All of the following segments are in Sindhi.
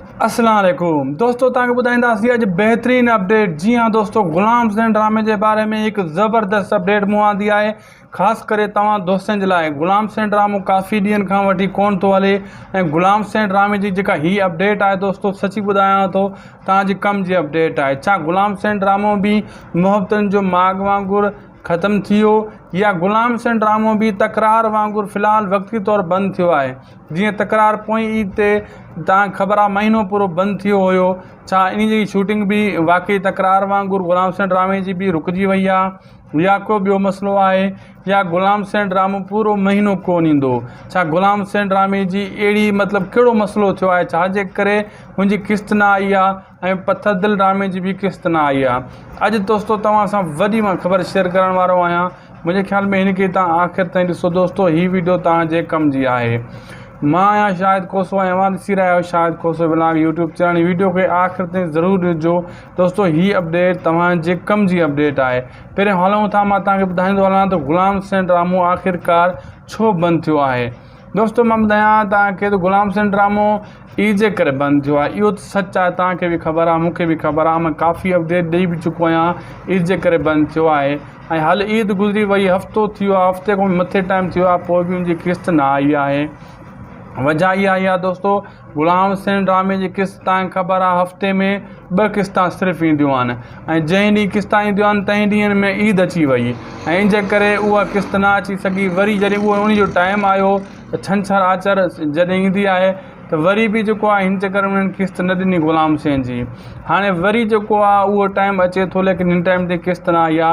اسلام عليڪم دوستو توهان کي ٻڌائينداسين اڄ بهترين اپڊيٽ جي ها دوستو غلام حسين ڊرامي جي باري ۾ هڪ زبردست اپڊيٽ مون آندي آهي خاص ڪري توهان دوستن جي لاء غلام حسين ڊرامو ڪافي ڏينهن کان وٺي ڪون ٿو هلي ۽ غلام حسين ڊرامي جي جيڪا هي اپڊيٽ آهي دوستو سچي ٻڌايان ٿو توهان جي ڪم جي اپڊيٽ آهي ڇا غلام حسين ڊرامو به محبتن جو ماڳ وانگر ختم ٿي ويو يا غلام حسين ڊرامو به تڪرار وانگر في الحال وقتي طور بند ٿيو آهي جيئن تڪرار پوئين عيد تي تانکھ خبر آ مهينو پورو بند ٿيو هيو ڇا انهي جي شوٽنگ به واقعي تڪرار وانگر غلام حسين ڊرامي جي به رڪجي وئي آ يا ڪو ٻيو مسئلو آهي يا غلام حسين ڊرامو پورو مهينو ڪون ايندو ڇا غلام حسين ڊرامي جي اهڙي مطلب ڪهڙو مسئلو ٿيو آهي ڇا جي ڪري هن جي قسط نه آئي آ ۽ پٿر دل ڊرامي جي به قسط نه آئي آ اڄ دوستو توهان سان وڏي مان خبر شيئر ڪرڻ وارو آهيان منهنجي خيال ۾ هن کي توهان آخر تائين ڏسو دوستو هي ويڊيو توهان جي ڪم جي آهي مان آهيان شاهد کوسو ۽ اوهان ڏسي رهيا آهيو Shahid Khoso vlog YouTube channel هي ويڊيو کي آخر تائين ضرور ڏسجو دوستو هي اپڊيٽ توهان جي ڪم جي اپڊيٽ آهي پهرين هلون ٿا مان توهان کي ٻڌائيندو هلان ته غلام حسين ڊرامو آخر ڪار ڇو بند ٿيو آهي دوستو مان ٻڌايان توهان کي ته غلام حسين ڊرامو اي جي ڪري بند ٿيو آهي اهو ته سچ آهي توهان کي به خبر آهي مون کي به خبر آهي مان ڪافي اپڊيٽ ڏئي به چڪو آهيان اي جي ڪري بند ٿيو آهي ۽ هل عيد گذري وئي هفتو ٿي ويو هفتي کان به مٿي ٽائيم ٿي ويو آهي پوء به ان جي قسط نه آئي آهي وجهه اها آئي آهي دوستو غلام حسين ڊرامي جي قسط تانکه خبر آ هفتي ۾ ٻه قسط صرف اينديون آهن ۽ جنهن ڏينهن قسط اينديون آهن تنهن ڏينهن ۾ عيد اچي وئي ۽ ان جي ڪري اها قسط نه اچي سگهي وري جڏهن اهو انهي جو ٽائيم آيو ته ڇنڇر آچر جڏهن ايندي آهي ته وري به جيڪو آهي هن چڪر ۾ انهن قسط نه ڏني غلام حسين جي هاڻي وري جيڪو آهي اهو ٽائيم اچي ٿو ليڪن هن ٽائيم تي قسط نه آئي آ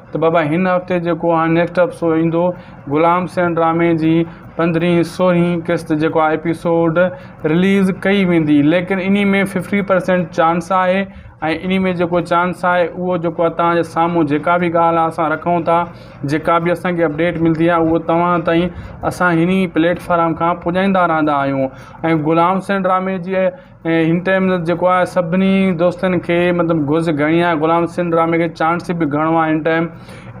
ته بابا هن هفتي جيڪو هاڻي نيڪسٽ ايپسوڊ ايندو غلام حسين ڊرامي جي پندرهين سورهين قسط جيڪو آهي ايپسوڊ رليز ڪئي ويندي ليڪن انهي ۾ ففٽي پرسينٽ چانس آهي ۽ انهي ۾ جيڪو چانس آهي اهو جيڪو آهي توهان جي سامهون جيڪا به ڳالهه اسان رکون ٿا جيڪا به اسان کي اپڊيٽ ملدي آهي اهو توهان تائين اسان هني پليٽ فارم کان پڄائيندا رهندا آهيون ۽ غلام حسين ڊرامي جي ۽ هن ٽائيم جيڪو آهي سڀني دوستن کي مطلب گهرج گهڻي آهي غلام حسين ڊرامي کي چانس به گهڻو آهي هن ٽائيم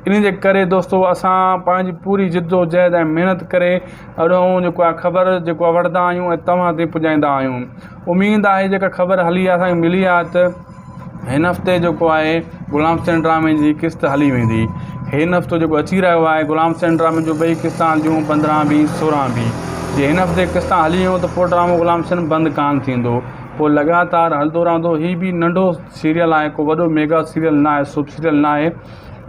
ان جي ڪري دوستو اسان پنهنجي پوري جد و جهد ۽ محنت ڪري اهڙو جيڪو آهي خبر جيڪو آهي وٺندا آهيون ۽ توهان تائين پڄائيندا آهيون اميد آهي جيڪا خبر هلي آهي ملي آهي ته هن هفتي جيڪو آهي غلام حسين ڊرامي جي قسط هلي ويندي هن هفتو جيڪو اچي رهيو آهي غلام حسين ڊرامي جون ٻئي قسطا هلنديون پندرهن بي سورهن بي جي هن هفتي قسطا هلي ويون ته پوء ڊرامو غلام حسين بند ڪانه ٿيندو پوء لڳاتار هلندو رهندو هي به ننڍو سيريل آهي ڪو وڏو ميگا سيريل ناهي سوپ سيريل ناهي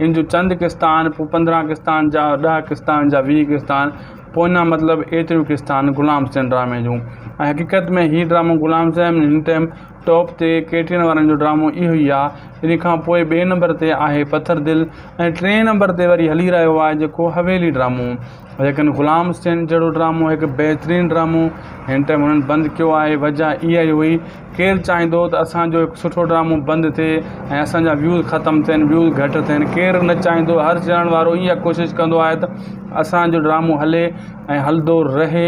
ان جون چند قسطا آهن پوء پندرهن قسطا آهن جا ڏهه قسطا آهن جا ويهه قسطا آهن پوء اڃا مطلب ايتريون قسطا آهن غلام حسين ڊرامي جون ۽ حقيقت ۾ هي ڊرامو غلام حسين هن ٽائيم ٽاپ تي ڪيٽرين وارن جو ڊرامو اهو ئي آ ان کان پوء ٻئي نمبر تي آهي پٿر دل ۽ ٽئين نمبر تي وري هلي رهيو آهي جيڪو حويلي ڊرامو ليڪن غلام حسين جهڙو ڊرامو هڪ بهترين ڊرامو هن ٽائيم هنن بند ڪيو آهي وجه اها ئي هئي ڪير چاهيندو ته اسان جو هڪ سٺو ڊرامو بند ٿئي ۽ اسان جا ويوز ختم ٿين ويوز گهٽ ٿين ڪير نه چاهيندو هر چينل وارو اها ڪوشش ڪندو آهي ته اسان جو ڊرامو هلي ۽ هلندو رهي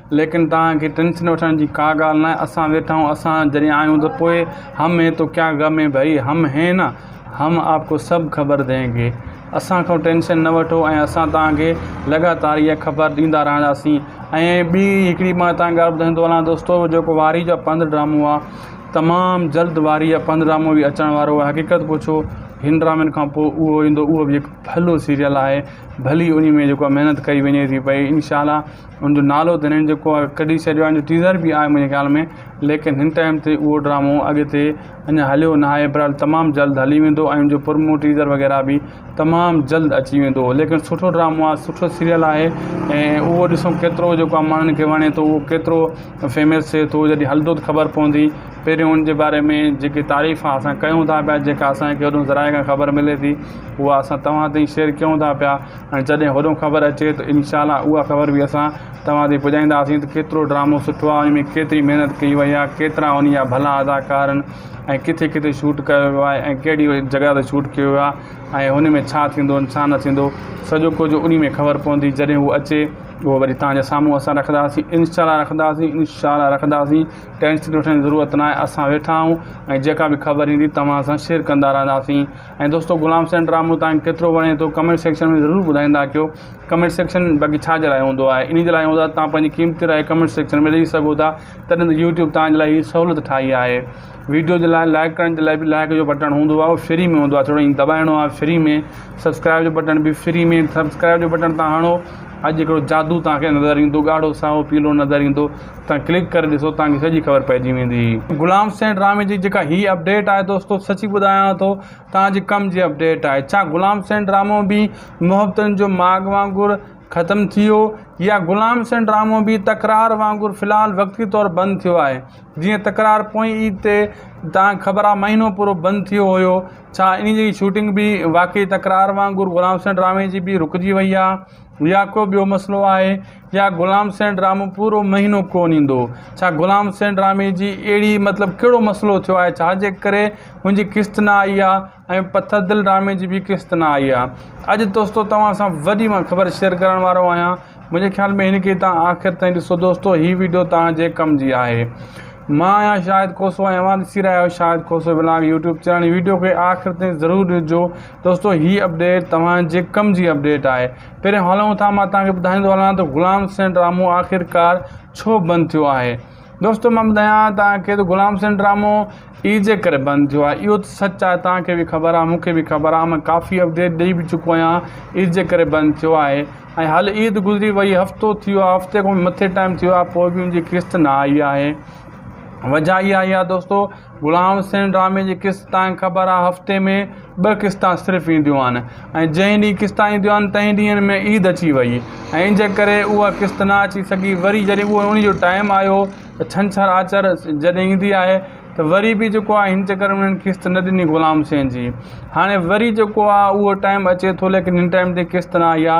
ليڪن توهان کي ٽينشن وٺڻ جي ڪا ڳالهه ناهي، اسان ويٺا آهيون، اسان جڏهن آيون ته پوء هم هين تو ڪيا غم هين ڀئي، هم هين نه، هم آپ ڪو سڀ خبر دين گي. اسان کان ٽينشن نه وٺو ۽ اسان توهان کي لڳاتار اها خبر ڏيندا رهنداسين. ۽ ٻي هڪڙي مان هتان ڳالهه ٻڌائيندو هلان دوستو جيڪو وارهي جا پنڌ ڊرامو آهي تمام جلد وارهي جا پنڌ ڊرامو به اچڻ وارو آهي حقيقت پڇو هن ڊرامن کان پوء اهو ايندو اهو به هڪ ڀلو سيريل آهي ڀلي انهي ۾ جيڪو آهي محنت ڪئي وڃي ٿي پئي انشاء الله ان جو نالو ته هنن جيڪو آهي ڪڍي ڇڏيو آهي ان جو ٽيزر به آهي منهنجي خيال ۾ ليڪن هن ٽائيم تي اهو ڊرامو اڳتي اڃا هليو نه آهي بهرحال تمام جلد هلي ويندو ۽ ان جو پرمو ٽيزر وغيره به تمام جلد اچي ويندو ليڪن سٺو ڊرامو آهي سٺو سيريل آهي ۽ اهو ڏسون ڪيترو جيڪو آهي ماڻهن کي وڻي ٿو اهو ڪيترو فيمس ٿئي ٿو جڏهن هلندو ته خبر پوندي پهريون ان جي باري ۾ جيڪي تعريف آهي اسان ڪيون ٿا پيا جيڪا اسانکي هيڏو ذرائع کان خبر ملي ٿي اها اسان تمام تائين شيئر ڪيون ٿا پيا ۽ جڏهن هوڏهون خبر اچي ته انشاء الله اها خبر به اسان توهان تائين پڄائينداسين ته ڪيترو ڊرامو سٺو آهي ان ۾ ڪيتري محنت ڪئي وئي آهي ڪيترا انهي جا ڀلا اداڪار آهن ۽ ڪٿي ڪٿي شوٽ ڪيو ويو آهي ۽ ڪهڙي جڳهه تي شوٽ ڪيو ويو آهي ۽ هن ۾ ڇا ٿيندو ۽ ڇا نه ٿيندو سڄو ڪجهه انهي ۾ خبر پوندي جڏهن هو اچي اهو وري توهان جي سامهون اسان رکنداسين انشاء الله رکنداسين انشاء الله رکنداسين ٽينشن وٺڻ جي ضرورت ناهي اسان ويٺا آهيون ۽ جيڪا به خبر ايندي توهان سان شيئر ڪندا رهنداسين ۽ دوستو غلام حسين ڊرامو تانکي ڪيترو وڻي ٿو ڪمينٽ سيڪشن ۾ ضرور ٻڌائيندا ڪيو ڪمينٽ سيڪشن باقي ڇا جي لاء هوندو آهي انهي جي لاء هوندو آهي تان پنهنجي قيمتي راء ڪمينٽ سيڪشن ۾ ڏئي سگهو ٿا تڏهن ته يوٽيوب تان جي لاء هي سهولت ٺاهي آهي ويڊيو جي لاء لائڪ ڪرڻ جي لاء به لائڪ جو بٽڻ هوندو آهي اهو فري ۾ هوندو آهي ٿورو ائين دٻائڻو آهي فري ۾ سبسڪرائب جو بٽڻ به فري ۾ سبسڪرائب جو بٽڻ تان هڻو اڄ هڪڙو جادو تانکي نظر ايندو ڳاڙهو سائو پيلو نظر ايندو تان ڪلڪ ڪري ڏسو تان کي سڄي خبر پئجي ويندي. غلام حسين ڊرامي جي جيڪا هي اپڊيٽ آهي دوستو سچي ٻڌايان ٿو تان جي ڪم جي اپڊيٽ آهي ڇا غلام حسين ڊرامو به محبتن جو ماڳ وانگر ختم ٿي ويو يا غلام حسين ڊرامو به تڪرار وانگر في الحال وقتي طور بند ٿيو آهي جيئن تڪرار پوئين عيد تي تان کي خبر آهي مهينو پورو بند ٿيو هيو ڇا انهي جي شوٽنگ به واقعي تڪرار وانگر غلام حسين ڊرامي جي به رڪجي وئي آهي. يا ڪو ٻيو مسئلو آهي يا غلام سين ڊرامو پورو مهينو ڪون ايندو ڇا غلام سين ڊرامي جي اهڙي مطلب ڪهڙو مسئلو ٿيو آهي ڇا جي ڪري منهنجي قسط نه آئي آهي ۽ پٿر دل ڊرامي جي به قسط نه آئي آهي اڄ دوستو توهان سان وڏي مان خبر شيئر ڪرڻ وارو آهيان منهنجي خيال ۾ هن کي توهان آخر تائين ڏسو دوستو هي ويڊيو توهان جي ڪم جي آهي مان آهيان شاهد کوسو ۽ اوهان ڏسي رهيا آهيو Shahid Khoso vlog YouTube channel video کي آخر تائين ضرور ڏسجو دوستو هي اپڊيٽ توهان جي ڪم جي اپڊيٽ آهي پهرين هلون ٿا مان توهان کي ٻڌائيندو هلان ته غلام حسين ڊرامو آخرڪار ڇو بند ٿيو آهي دوستو مان ٻڌايان توهان کي ته غلام حسين ڊرامو اي جي ڪري بند ٿيو آهي اهو ته سچ آهي توهان کي به خبر آهي مون کي به خبر آهي مان ڪافي اپڊيٽ ڏيئي به چڪو آهيان اي جي ڪري بند ٿيو آهي ۽ هل عيد گذري وئي هفتو ٿي ويو آهي هفتي کان مٿي ٽائم ٿي ويو آهي پوء به ان جي قسط نه آئي آهي وجهه اها آهي دوستو غلام حسين ڊرامي جي قسط تانئن خبر آ هفتي ۾ ٻه قسطان صرف اينديون آهن ۽ جنهن ڏينهن قسطان اينديون آهن تنهن ڏينهن ۾ عيد اچي وئي ۽ ان جي ڪري اها قسط نه اچي سگهي وري جڏهن اهو انهي جو ٽائيم آيو ته ڇنڇر آچر جڏهن ايندي آهي ته وري به جيڪو آهي هن چڪر ۾ انهن قسط نه ڏني غلام حسين جي هاڻي وري جيڪو آ اهو ٽائيم اچي ٿو ليڪن هن ٽائيم تي قسط نه آئي آ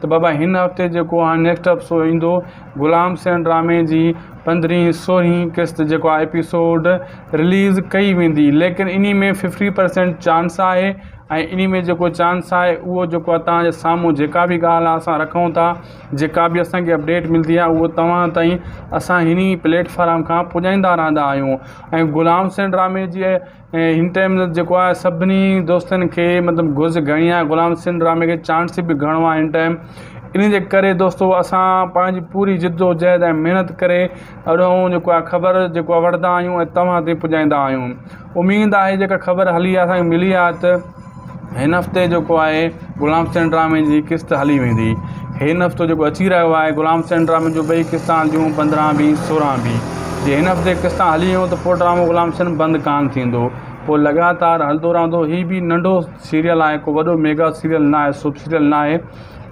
ته بابا هن هفتي جيڪو هاڻي نيڪسٽ ايپسوڊ ايندو غلام سين ڊرامي جي پندرهين سورهين قسط جيڪو آهي ايپيسوڊ رليز ڪئي ويندي ليڪن انهي ۾ ففٽي پرسينٽ چانس آهي ۽ انهي ۾ جيڪو چانس آهي اهو جيڪو آهي توهان جي سامهون جيڪا به ڳالهه آهي اسان رکون ٿا جيڪا به اسانکي اپڊيٽ ملدي آهي اهو توهان تائين اسان هني پليٽفارم کان پڄائيندا رهندا آهيون ۽ غلام سين ڊرامي جي ۽ هن ٽائيم مطلب جيڪو آهي سڀني دوستن کي مطلب گهرج گهڻي آهي غلام حسين ڊرامي کي چانس به گهڻو آهي هن ٽائيم ان جي ڪري دوستو اسان پنهنجي پوري جد و جهد ۽ محنت ڪري اهڙو جيڪو آهي خبر جيڪو آهي وٺندا آهيون ۽ توهان تائين پڄائيندا آهيون اميد آهي جيڪا خبر هلي آهي ملي آهي ته هن هفتي جيڪو آهي غلام حسين ڊرامي جي قسط هلي ويندي هن هفتو جيڪو اچي رهيو آهي غلام حسين ڊرامي جون ٻئي قسطون هلنديون پندرهن بي سورهن بي جي هن هفتي قسط هلي ويون ته پوء ڊرامو غلام حسين بند ڪانه ٿيندو پوء لڳاتار هلندو رهندو هي به ننڍو سيريل آهي ڪو وڏو ميگا سيريل ناهي سوپ سيريل ناهي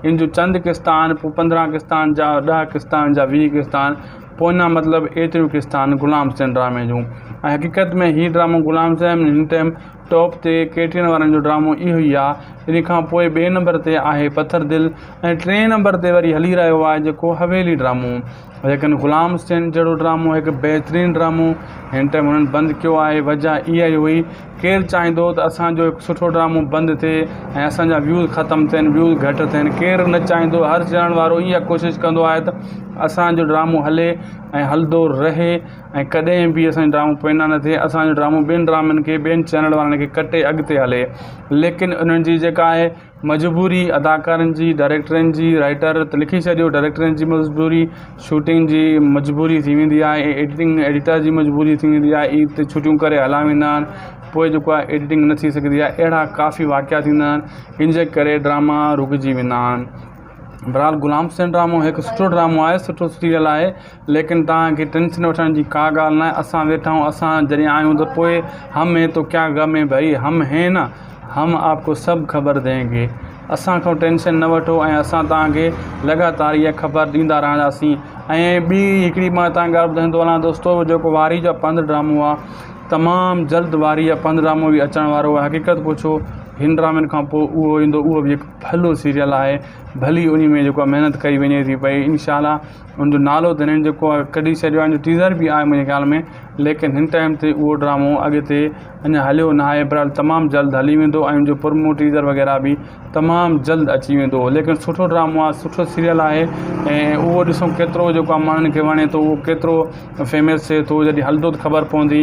ان جون چند قسط آهن پوء پندرهن قسط آهن جا ڏهه قسط آهن جا ويهه قسط آهن پوء اڃا مطلب ايتريون قسط آهن غلام حسين ڊرامي جون ۽ حقيقت ۾ هي ڊرامو غلام حسين هن ٽائيم ٽاپ تي ڪيٽرين وارن جو ڊرامو اهو ئي آ ان کان پوء ٻئي نمبر تي آهي پٿر دل ۽ ٽئين نمبر تي وري هلي رهيو آهي جيڪو حويلي ڊرامو ليڪن غلام حسين جهڙو ڊرامو هڪ بهترين ڊرامو هن ٽائيم هنن بند ڪيو آهي وجه اها ئي هئي ڪير چاهيندو ته اسان جو هڪ سٺو ڊرامو بند ٿئي ۽ اسان جا ويوز ختم ٿين ويوز گهٽ ٿين ڪير نه چاهيندو هر چينل وارو اها ڪوشش ڪندو آهي ته اسان جو ڊرامو هلي ۽ هلندو رهي ۽ ڪڏهن به اسان جو ڊرامو پوئنا نه ٿئي اسان جو ڊرامو ٻين ڊرامن کي ٻين چينل وارن کي ڪٽي اڳتي هلي ليڪن انهن جي جيڪا آهي مجبوري اداڪارن جي ڊائريڪٽرن جي رائيٽر ته لکي ڇڏيو ڊائريڪٽرن جي مجبوري شوٽنگ جي مجبوري ٿي ويندي آهي ايڊيٽنگ ايڊيٽر جي مجبوري ٿي ويندي آهي عيد تي ڇٽيون ڪري هليا ويندا آهن پوء جيڪو آهي ايڊيٽنگ نه ٿي سگهندي آهي اهڙا ڪافي واقعا ٿيندا آهن ان جي ڪري ڊراما رڪجي ويندا آهن بھرحال غلام حسين ڊرامو ھڪ سٺو ڊرامو آھي سٺو سيريل آھي ليڪن توھان کي ٽينشن وٺڻ جي ڪا ڳالھ ناھي اسان ويٺا آھيون اسان جڏھن آھيون ته پوء ھم ھين تو ڪيا غم ھين ڀئي ھم ھين نا ھم آپ ڪو سب خبر دين گي اسان کان ٽينشن نه وٺو ۽ اسان توھان کي لڳاتار اھا خبر ڏيندا رھنداسين ۽ ٻي ھڪڙي مان توھان کي ڳالھ ٻڌائيندو وڃان دوستو جيڪو وارھي جا پنڌ ڊرامو آھي تمام جلد وارھي جا پنڌ ڊرامو به اچڻ وارو آھي حقيقت پڇو ھن ڊرامن کان پوء اھو ايندو اھو به ھڪ ڀلو سيريل آهي ڀلي انهي ۾ جيڪو آهي محنت ڪئي وڃي ٿي پئي انشاء الله ان جو نالو ته هنن جيڪو آهي ڪڍي ڇڏيو آهي ان جو ٽيزر به آهي منهنجي خيال ۾ ليڪن هن ٽائيم تي اهو ڊرامو اڳتي اڃا هليو نه آهي بھرحال تمام جلد هلي ويندو ۽ ان جو پرمو ٽيزر وغيره به تمام جلد اچي ويندو ليڪن سٺو ڊرامو آهي سٺو سيريل آهي ۽ اهو ڏسون ڪيترو جيڪو آهي ماڻهن کي وڻي ٿو اهو ڪيترو فيمس ٿئي ٿو جڏهن هلندو ته خبر پوندي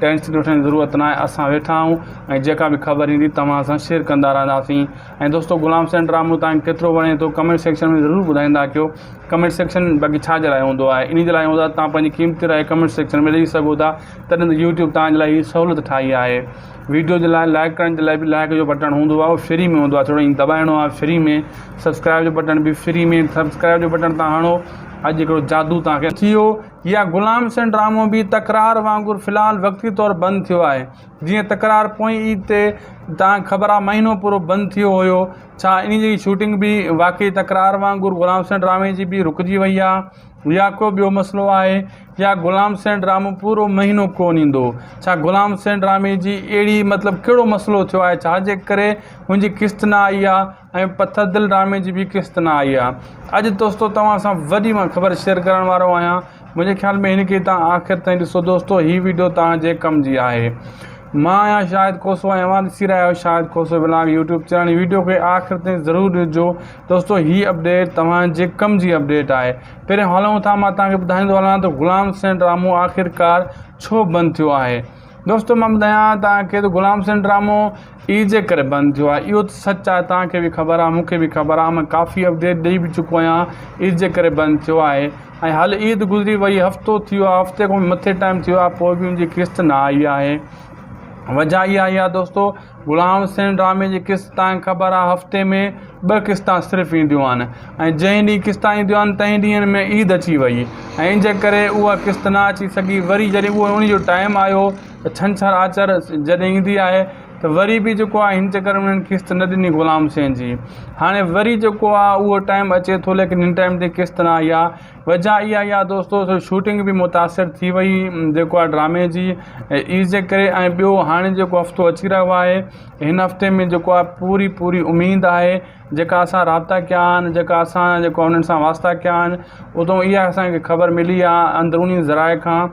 ٽينشن وٺڻ جي ضرورت ناهي اسان ويٺا آهيون ۽ جيڪا به خبر ايندي توهان سان شيئر ڪندا رهنداسين ۽ دوستو غلام حسين ڊرامو توهان کي ڪيترو وڻي ٿو ڪمينٽ سيڪشن ۾ ضرور ٻڌائيندا ڪيو ڪمينٽ سيڪشن باقي ڇا جي لاء هوندو آهي انهي جي لاء هوندو آهي توهان پنهنجي قيمتي راء ڪمينٽ سيڪشن ۾ ڏئي سگهو ٿا تڏهن ته يوٽيوب توهان جي لاء هي سهولت ٺاهي آهي ويڊيو جي لاء لائڪ ڪرڻ جي لاء به لائڪ جو بٽڻ هوندو آهي اهو فري ۾ هوندو آهي ٿورو ائين دٻائڻو آهي فري ۾ سبسڪرائب جو بٽڻ به فري ۾ سبسڪرائب جو بٽڻ تان هڻو اڄ هڪڙو جادو توهان کي ٿي ويو يا غلام حسين ڊرامو به تڪرار وانگر في الحال وقتي طور بند ٿيو آهي. جيئن تڪرار پوئين عيد تي تان خبر آهي مهينو پورو بند ٿيو هيو ڇا انهي جي شوٽنگ به واقعي تڪرار وانگر غلام حسين ڊرامي جي به رڪجي وئي آهي يا ڪو ٻيو مسئلو آهي يا غلام حسين ڊرامو پورو مهينو ڪون ايندو ڇا غلام حسين ڊرامي جي اهڙي مطلب ڪهڙو مسئلو ٿيو آهي ڇا جي ڪري هن جي قسط نه آئي آهي ۽ پٿر دل ڊرامي جي به قسط نه آئي آ اڄ دوستو توهان سان وڏي مان خبر شيئر ڪرڻ وارو آهيان منهنجي خيال ۾ هن کي توهان آخر تائين ڏسو دوستو هي ويڊيو توهان جي ڪم جي آهي مان آهيان شاهد کوسو ۽ اوهان ڏسي رهيا آهيو Shahid Khoso vlog YouTube channel هي ويڊيو کي آخر تائين ضرور ڏسجو دوستو هي اپڊيٽ توهان جي ڪم جي اپڊيٽ آهي پهرين هلون ٿا مان توهان کي ٻڌائيندو هلان ته غلام حسين ڊرامو آخرڪار ڇو بند ٿيو آهي دوستو مان ٻڌايان توهان کي ته غلام حسين ڊرامو اي جي ڪري بند ٿيو آهي اهو ته سچ آهي توهان کي به خبر آهي مون کي به خبر آهي مان ڪافي اپڊيٽ ڏئي به چڪو آهيان اي جي ڪري بند ٿيو آهي ۽ هل عيد گذري وئي هفتو ٿيو آهي هفتي کان مٿي ٽائم ٿيو آهي پوء به ان جي قسط نه آئي آهي وجهه اها آئي آهي دوستو غلام حسين ڊرامي جي قسط تانکي خبر آ هفتي ۾ ٻه قسطا صرف اينديون آهن ۽ جنهن ڏينهن قسطا اينديون آهن تنهن ڏينهن ۾ عيد اچي وئي ۽ ان جي ڪري اها قسط نه اچي سگهي وري جڏهن اهو انهي جو ٽائيم آيو ته ڇنڇر آچر جڏهن ايندي آهي ته وري به جيڪو آهي هن چڪر ۾ انهن قسط نه ڏني غلام حسين جي هاڻي وري جيڪو آهي اهو ٽائيم اچي ٿو ليڪن هن ٽائيم تي قسط نه آئي آ وجهه اها آهي يا دوستو سو شوٽنگ به متاثر ٿي وئي جيڪو آهي ڊرامي جي عيد جي ڪري ۽ ٻيو هاڻي جيڪو هفتو اچي رهيو آهي هن هفتي ۾ جيڪو آهي پوري پوري اميد آهي جيڪا اسان رابطا ڪيا آهن جيڪا اسان جيڪو انهن سان واسطا ڪيا آهن اتو اها اسانکي خبر ملي آهي اندروني ذرائع کان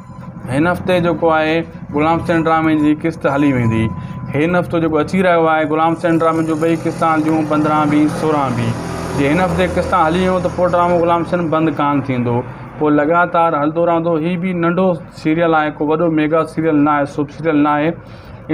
هن هفتي جيڪو آهي غلام حسين ڊرامي جي قسط هلي ويندي هن هفتو جيڪو اچي رهيو آهي غلام حسين ڊرامي جون ٻئي قسطا هلنديون پندرهن بي سورهن بي جي هن هفتي قسطا هلي ويون ته پوء ڊرامو غلام حسين بند ڪانه ٿيندو پوء لڳاتار هلندو رهندو هي به ننڍو سيريل آهي ڪو وڏو ميگا سيريل ناهي سوپ سيريل ناهي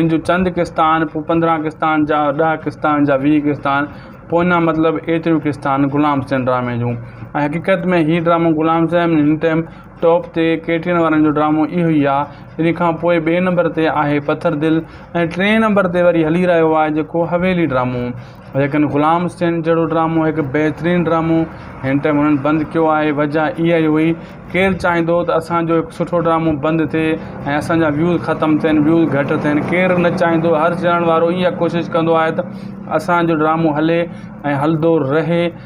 ان جون چند قسطا آهن پوء پندرهن قسطا آهن جا ڏهه قسطا آهن جا ويهه قسطا آهن پوء اڃا مطلب ايتريون قسطا آهن غلام حسين ڊرامي جون ۽ حقيقت ۾ هي ڊرامو غلام حسين هن ٽائيم ٽاپ تي ڪيٽرين وارن جو ڊرامو اهو ئي آ ان کان پوء ٻئي نمبر تي آهي پٿر دل ۽ ٽئين نمبر تي وري هلي رهيو آهي جيڪو حويلي ڊرامو ليڪن غلام حسين جهڙو ڊرامو هڪ بهترين ڊرامو هن ٽائيم هنن بند ڪيو آهي وجه اها ئي هئي ڪير چاهيندو ته اسان جو هڪ سٺو ڊرامو بند ٿئي ۽ اسان جا ويوز ختم ٿين ويوز گهٽ ٿين ڪير نه چاهيندو هر چينل وارو اها ڪوشش ڪندو آهي ته اسان جو ڊرامو هلي ۽ هلندو رهي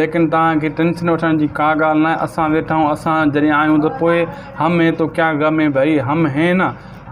ليڪن توهان کي ٽينشن وٺڻ جي ڪا ڳالهه ناهي، اسان ويٺا آهيون، اسان جڏهن آيون ته پوء هم هين تو ڪيا غم هين ڀئي، هم هين نه،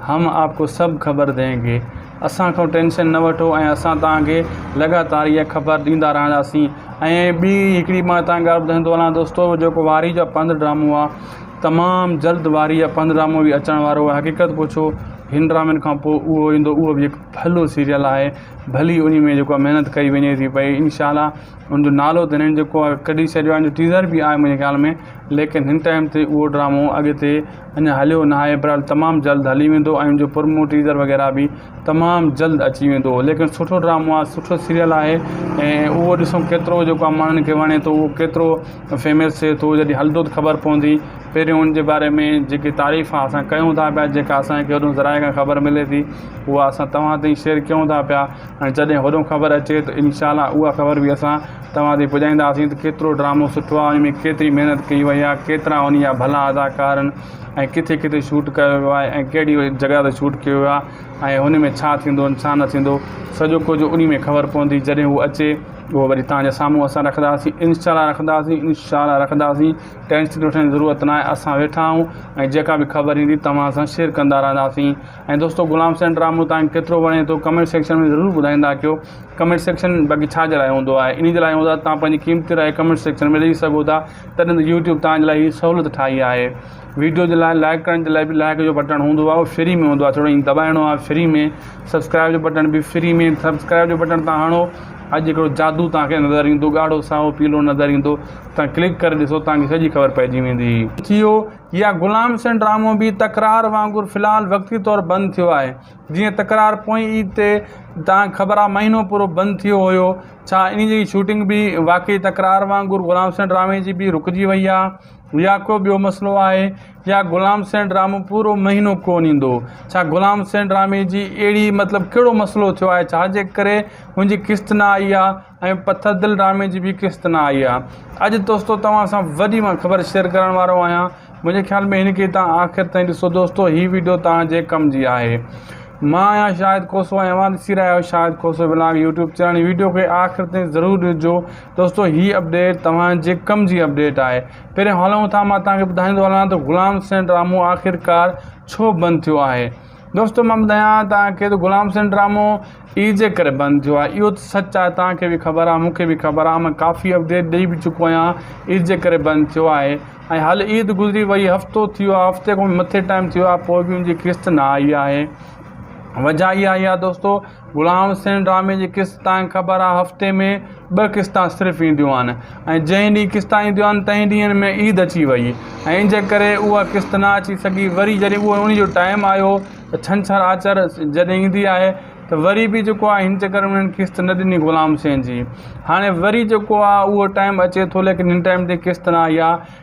هم آپ ڪو سڀ خبر دين گي. اسان کان ٽينشن نه وٺو ۽ اسان توهان کي لڳاتار اها خبر ڏيندا رهنداسين. ۽ ٻي هڪڙي مان هتان ڳالهه ٻڌائيندو هلان دوستو جيڪو وارهي جا پنڌ ڊرامو آهي تمام جلد وارهي جا پنڌ ڊرامو به اچڻ وارو آهي حقيقت پڇو هن ڊرامن کان پوء اهو ايندو اهو به هڪ ڀلو سيريل آهي ڀلي انهي ۾ جيڪو آهي محنت ڪئي وڃي ٿي پئي انشاء الله ان جو نالو ته ھنن جيڪو آھي ڪڍي ڇڏيو آھي ان جو ٽيزر به آھي منھنجي خيال ۾ ليڪن ھن ٽائيم تي اھو ڊرامو اڳتي اڃا ھليو ناھي بھرحال تمام جلد ھلي ويندو ۽ ان جو پرمو ٽيزر وغيره به تمام جلد اچي ويندو ليڪن سٺو ڊرامو آھي سٺو سيريل آھي ۽ اھو ڏسون ڪيترو جيڪو آھي ماڻھن کي وڻي ٿو اھو ڪيترو فيمس ٿئي ٿو جڏھن ھلندو ته خبر پوندي پھريون ان جي باري ۾ جيڪي تعريف آھي اسان ڪيون ٿا پيا جيڪا اسان کي ھيڏون ذرائع کان خبر ملي ٿي اھا اسان توھان تائين شيئر ڪيون ٿا پيا ۽ جڏهن هوڏهون خبر اچي ته انشاء الله اها خبر به اسان توهان تائين پڄائينداسين ته ڪيترو ڊرامو سٺو آهي ان ۾ ڪيتري محنت ڪئي وئي آهي ڪيترا انهي جا ڀلا اداڪار آهن ۽ ڪٿي ڪٿي شوٽ ڪيو ويو آهي ۽ ڪهڙي جڳهه تي شوٽ ڪيو ويو آهي ۽ هن ۾ ڇا ٿيندو ۽ ڇا نه ٿيندو سڄو ڪجهه انهي ۾ خبر پوندي جڏهن هو اچي اهو وري توهان جي سامهون اسان رکنداسين انشاء الله رکنداسين انشاء الله رکنداسين ٽينشن وٺڻ جي ضرورت ناهي اسان ويٺا آهيون ۽ جيڪا به خبر ايندي توهان سان شيئر ڪندا رهنداسين ۽ دوستو غلام حسين ڊرامو تانکي ڪيترو وڻي ٿو ڪمينٽ سيڪشن ۾ ضرور ٻڌائيندا ڪيو ڪمينٽ سيڪشن باقي ڇا جي لاء هوندو آهي انهي جي لاء هوندو آهي تان پنهنجي قيمتي راء ڪمينٽ سيڪشن ۾ ڏئي سگهو ٿا تڏهن ته يوٽيوب تان جي لاء هي سهولت ٺاهي آهي ويڊيو جي لاء لائڪ ڪرڻ جي لاء به لائڪ جو بٽڻ هوندو آهي اهو فري ۾ هوندو آهي ٿورو ائين دٻائڻو آهي فري ۾ سبسڪرائب جو بٽڻ به فري ۾ سبسڪرائب جو بٽڻ تان هڻو اڄ هڪڙو جادو تانکي نظر ايندو ڳاڙهو سائو پيلو نظر ايندو تان ڪلڪ ڪري ڏسو تانکي سڄي خبر پئجي ويندي ٿيو يا غلام حسين ڊرامو به تڪرار وانگر في الحال وقتي طور بند ٿيو آهي. جيئن تڪرار پوئين عيد تي تان خبر آهي مهينو پورو بند ٿيو هيو ڇا انهي جي شوٽنگ به واقعي تڪرار وانگر غلام حسين ڊرامي جي به رڪجي وئي آهي يا ڪو ٻيو مسئلو آهي يا غلام حسين ڊرامو پورو مهينو ڪون ايندو ڇا غلام حسين ڊرامي جي اهڙي مطلب ڪهڙو مسئلو ٿيو آهي ڇا جي ڪري هن جي قسط نه آئي آهي ۽ پٿر دل ڊرامي جي ٻي قسط نه آئي آ اڄ دوستو توهان سان وڏي مان خبر شيئر ڪرڻ وارو آهيان منهنجي خيال ۾ هن کي توهان آخر تائين ڏسو دوستو هي ويڊيو توهان جي ڪم جي آهي مان آهيان شاهد کوسو ۽ اوهان ڏسي رهيا آهيو Shahid Khoso vlog YouTube channel هي ويڊيو کي آخر تائين ضرور ڏسجو دوستو هي اپڊيٽ توهان جي ڪم جي اپڊيٽ آهي پهرين هلون ٿا مان توهان کي ٻڌائيندو هلان ته غلام حسين ڊرامو آخرڪار ڇو بند ٿيو آهي دوستو مان ٻڌايان توهان کي ته غلام حسين ڊرامو عيد جي ڪري بند ٿيو آهي اهو ته سچ آهي توهان کي به خبر آهي مون کي به خبر آهي مان ڪافي اپڊيٽ ڏئي به چڪو آهيان عيد جي ڪري بند ٿيو آهي ۽ هل عيد گذري وئي هفتو ٿيو آهي هفتي کان مٿي ٽائيم ٿيو آهي پوء به ان جي قسط نه آئي آهي وجهه اها آئي آهي دوستو غلام حسين ڊرامي جي قسط تانکي خبر آ هفتي ۾ ٻه قسطا صرف اينديون آهن ۽ جنهن ڏينهن قسطا اينديون آهن تنهن ڏينهن ۾ عيد اچي وئي ۽ ان جي ڪري اها قسط نه اچي سگهي وري جڏهن اهو انهي جو ٽائيم آيو ته ڇنڇر آچر جڏهن ايندي آهي ته وري به جيڪو آهي هن چڪر ۾ انهن قسط نه ڏني غلام حسين جي هاڻي وري جيڪو آهي اهو ٽائيم اچي ٿو ليڪن هن ٽائيم تي قسط نه آئي آ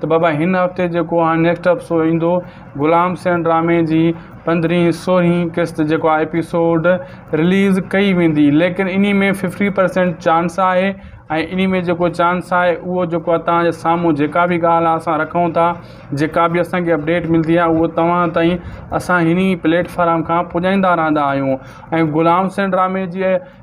ته بابا هن هفتي جيڪو هاڻي نيڪسٽ ايپسوڊ ايندو غلام سين ڊرامي جي پندرهين سورهين قسط جيڪو آهي ايپيسوڊ رليز ڪئي ويندي ليڪن انهي ۾ ففٽي پرسينٽ چانس آهي ۽ انهي ۾ جيڪو چانس آهي اهو جيڪو آهي توهان جي سامهون جيڪا به ڳالهه آهي اسان رکون ٿا جيڪا به اسانکي اپڊيٽ ملدي آهي اهو توهان تائين اسان هني پليٽفارم کان پڄائيندا رهندا آهيون ۽ غلام سين ڊرامي جي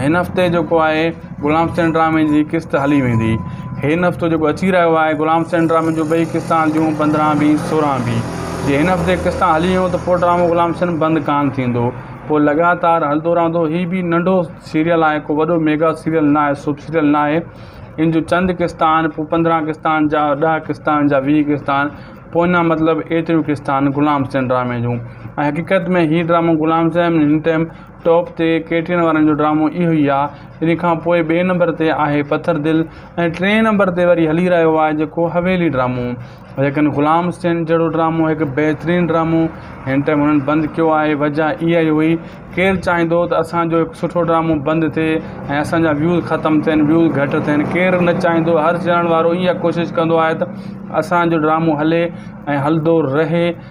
هن هفتي جيڪو آهي غلام حسين ڊرامي جي قسط هلي ويندي هن هفتو جيڪو اچي رهيو آهي غلام حسين ڊرامي جو ٻئي قسطا هلنديون پندرهن بي سورهن بي جي هن هفتي قسطا هلي ويون ته پوء ڊرامو غلام حسين بند ڪانه ٿيندو پوء لڳاتار هلندو رهندو هي به ننڍو سيريل آهي ڪو وڏو ميگا سيريل ناهي سوپ سيريل ناهي ان جو چند قسطا آهن پوء پندرهن قسطا آهن جا ڏهه قسطا آهن جا ويهه قسطا آهن پوء اڃا مطلب ايتريون قسطا آهن غلام حسين ڊرامي جون ۽ حقيقت ۾ هي ڊرامو غلام حسين هن ٽائيم ٽاپ تي ڪيٽرين وارن جو ڊرامو اهو ئي آ ان کان پوء ٻئي نمبر تي آهي پٿر دل ۽ ٽئين نمبر تي وري هلي رهيو آهي جيڪو حويلي ڊرامو ليڪن غلام حسين جهڙو ڊرامو هڪ بهترين ڊرامو هن ٽائيم هنن بند ڪيو آهي وجه اها ئي هئي ڪير چاهيندو ته اسان جو هڪ سٺو ڊرامو بند ٿئي ۽ اسان جا ويوز ختم ٿين ويوز گهٽ ٿين ڪير نه چاهيندو هر چينل وارو اها ڪوشش ڪندو آهي ته اسان جو ڊرامو هلي ۽ هلندو رهي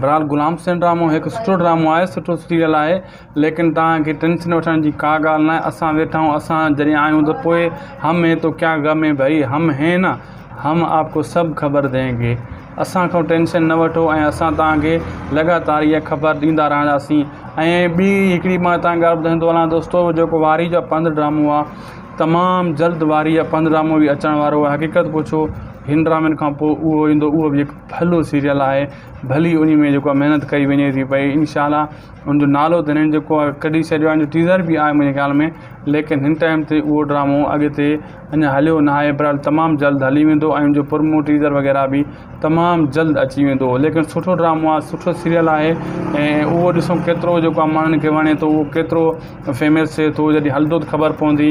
بھرحال غلام حسين ڊرامو ھڪ سٺو ڊرامو آھي سٺو سيريل آھي ليڪن توھان کي ٽينشن وٺڻ جي ڪا ڳالھ ناھي اسان ويٺا آھيون اسان جڏھن آھيون ته پوء ھم ھين تو ڪيا غم ھين ڀئي ھم ھين نا ھم آپ ڪو سب خبر دين گي اسان کان ٽينشن نه وٺو ۽ اسان توھان کي لڳاتار اھا خبر ڏيندا رھنداسين ۽ ٻي ھڪڙي مان توھان کي ڳالھ ٻڌائيندو ٿو ھلان دوستو جيڪو وارھي جا پنڌ ڊرامو آھي تمام جلد وارھي جا پنڌ ڊرامو به اچڻ وارو آھي حقيقت پڇو ھن ڊرامن کان پوء اھو ايندو اھو به ھڪ ڀلو سيريل آهي ڀلي انهي ۾ جيڪو آهي محنت ڪئي وڃي ٿي پئي انشاء الله ان جو نالو ته هنن جيڪو آهي ڪڍي ڇڏيو آهي ان جو ٽيزر به آهي منهنجي خيال ۾ ليڪن هن ٽائيم تي اهو ڊرامو اڳتي اڃا هليو نه آهي بھرحال تمام جلد هلي ويندو ۽ ان جو پرمو ٽيزر وغيره به تمام جلد اچي ويندو ليڪن سٺو ڊرامو آهي سٺو سيريل آهي ۽ اهو ڏسون ڪيترو جيڪو آهي ماڻهن کي وڻي ٿو اهو ڪيترو فيمس ٿئي ٿو جڏهن هلندو ته خبر پوندي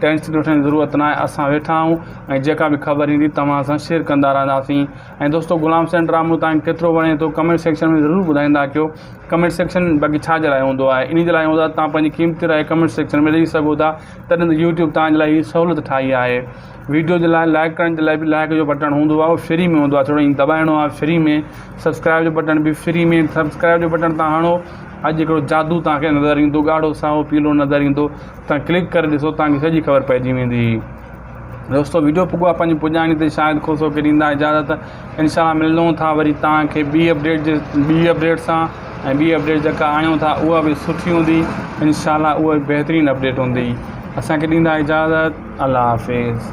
ٽينشن وٺڻ جي ضرورت ناهي اسان ويٺا آهيون ۽ جيڪا به خبر ايندي توهان سان شيئر ڪندا رهنداسين ۽ دوستو غلام حسين ڊرامو توهان کي ڪيترو وڻي ٿو ڪمينٽ سيڪشن ۾ ضرور ٻڌائيندا ڪيو ڪمينٽ سيڪشن باقي ڇا جي لاء هوندو آهي انهي جي لاء هوندو آهي توهان پنهنجي قيمتي راء ڪمينٽ سيڪشن ۾ ڏئي سگهو ٿا تڏهن ته يوٽيوب توهان جي لاء هي سهولت ٺاهي آهي ويڊيو جي لاء لائڪ ڪرڻ جي لاء به لائڪ جو بٽڻ هوندو آهي اهو فري ۾ هوندو آهي ٿورو ائين دٻائڻو آهي فري ۾ سبسڪرائب جو بٽڻ به فري ۾ سبسڪرائب جو بٽڻ تان هڻو اڄ هڪڙو جادو توهان کي نظر ايندو ڳاڙهو سائو پيلو نظر ايندو تان ڪلڪ ڪري ڏسو تان کي سڄي خبر پئجي ويندي دوستو ويڊيو پڳو آ پنهنجي پڄاڻي تي شايد خوش هو ڪي ڏيندا اجازت انشاء الله ملون ٿا وري تان کي ٻي اپڊيٽ جي ٻي اپڊيٽ سان ۽ ٻي اپڊيٽ جيڪا آڻيون ٿا اها به سٺي هوندي انشاء الله اها بهترين اپڊيٽ هوندي اسان کي ڏيندا اجازت الله حافظ